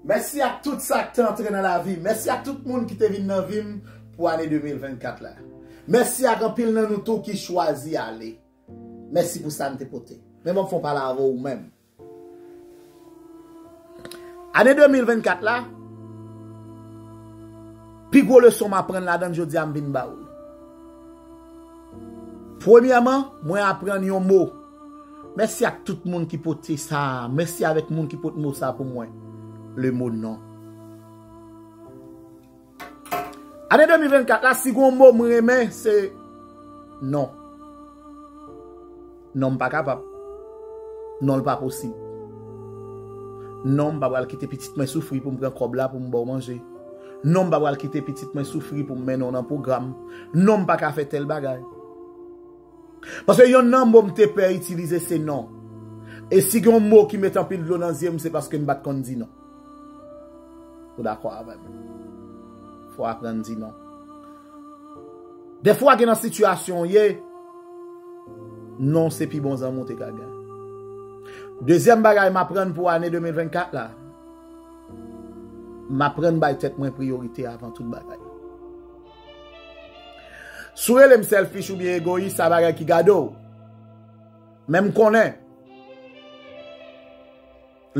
Mèsi ak tout sa k te antre nan lavi m. Mèsi ak tout moun ki te vin nan vi m pou ane 2024 la. Mèsi ak anpil nan nou tou ki chwazi ale. Mèsi pou sa n te pote. Men ban m fè yon pale avè w ou menm. Ane 2024 la, pi gwo leson m aprann ladan l jodi a m vin ba w li. Premyèman, mwen aprann yon mo Mèsi ak tout moun ki pote sa a. Mèsi avèk moun ki pot mo sa pou mwen. Le mo non. Ane 2024 la si gon mo m renmen se non. Non m pa kapab. Non l pa posib. Non m pa pral kite pitit mwen soufri pou m pran kòb la pou m ba w manje. Non m pa pral kite pitit mwen soufri pou m mennen w nan pwogram. Non m pa ka fè tèl bagay. Paske yon nan mo m te pè itilize se non. E si gen yon mo ki met anpil dlo nan zye m se paske m pa t konn di non. Ou dakò avè m? Fò w aprann di non. Defwa gen nan sitiyasyon w ye, non se pi bon zanmi w te ka gen. Dezyèm bagay m aprann pou ane 2024 la, m aprann bay tèt mwen priyorite avan tout bagay. Si w rele m selfish oubyen egoyis, sa bagay ki gade w. Men m konnen,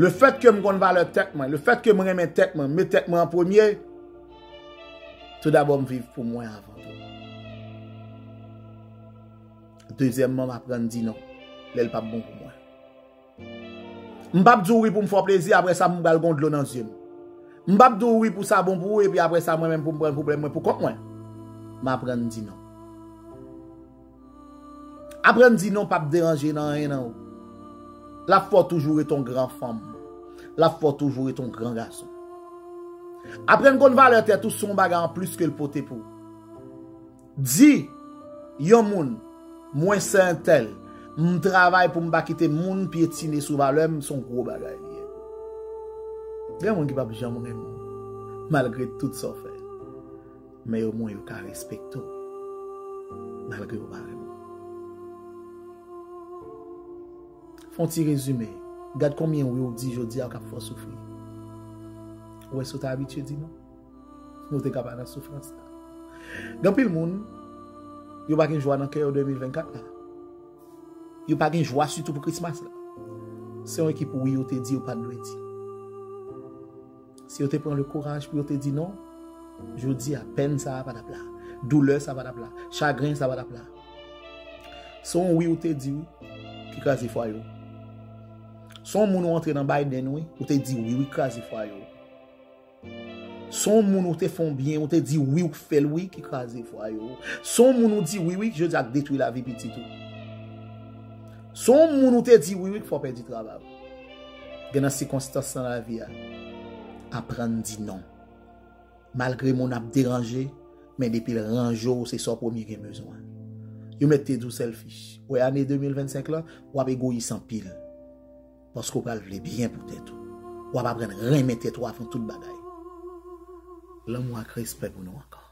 le fèt ke m konn valè tèt mwen, le fèt ke m renmen tèt mwen, m met tèt mwen an premye, tout dabò m viv pou mwen avan tou. Dezyèmman, m aprann di non, lè l pa bon pou mwen. M pap di w wi pou m fè w plezi aprè sa m pral gen yon dlo nan zye m. M pap di w wi pou sa bon pou ou epi aprè sa mwen menm pou m pran pwoblèm mwen pou kont mwen. M aprann di non. Aprann di non pap deranje nan anyen nan ou. L ap fè w toujou ret yon gran fanm. L ap fè w toujou ret yon gran gason. Aprann konn valè tèt ou se yon bagay anplis ke l pote pou ou. Di Yon moun Mwen sè entèl m travay poum pa kite moun pyetine sou valèm son gwo bagay li ye bro gen moun ki pap janm renmen w malgre tout sa w fè men yo mwen yo ka respekte w malgre yo pa renmen w fon ti rezime gad konbyen wi w di jodi a kap fè w soufri ou wè sa w te abitye di non. Nou te ka pa nan soufrans sa. Gen pil moun, yo pa gen jwa nan kè yo 2024 la. Yo pa gen jwa sitou pou Christmas la. Se yon ekip wi yo te di yo pa dwe di. Si yo te pran le kouraj pou yo te di non, jodi a pen sa pa tap la. Doulè sa pa tap la. Chagren sa pa tap la. Son wi yo te di ki kaze fwa yo. Son moun ou antre nan Biden wi, yo te di wi yo kaze fwa yo. Son moun ou te fon byen, ou te di wi ou k fèl wi ki kraze fwaye ou. Son moun ou di wi wi ki jodi ak detwi lavi pitit ou. Son moun ou te di wi wi k fè w pèdi travay ou. Gen nan sikonstans nan lavi a, aprann di non. Malgre moun ap deranje, men depi l ranje w se sa w premye gen bezwen. Yo mèt te di w selfish. Wè ane 2025 lan, w ap egoyis anpil. paske w pral vle byen pou tèt ou. W ap aprann renmen tèt ou avan tout bagay. Lanmou ak respè pou nou ankò.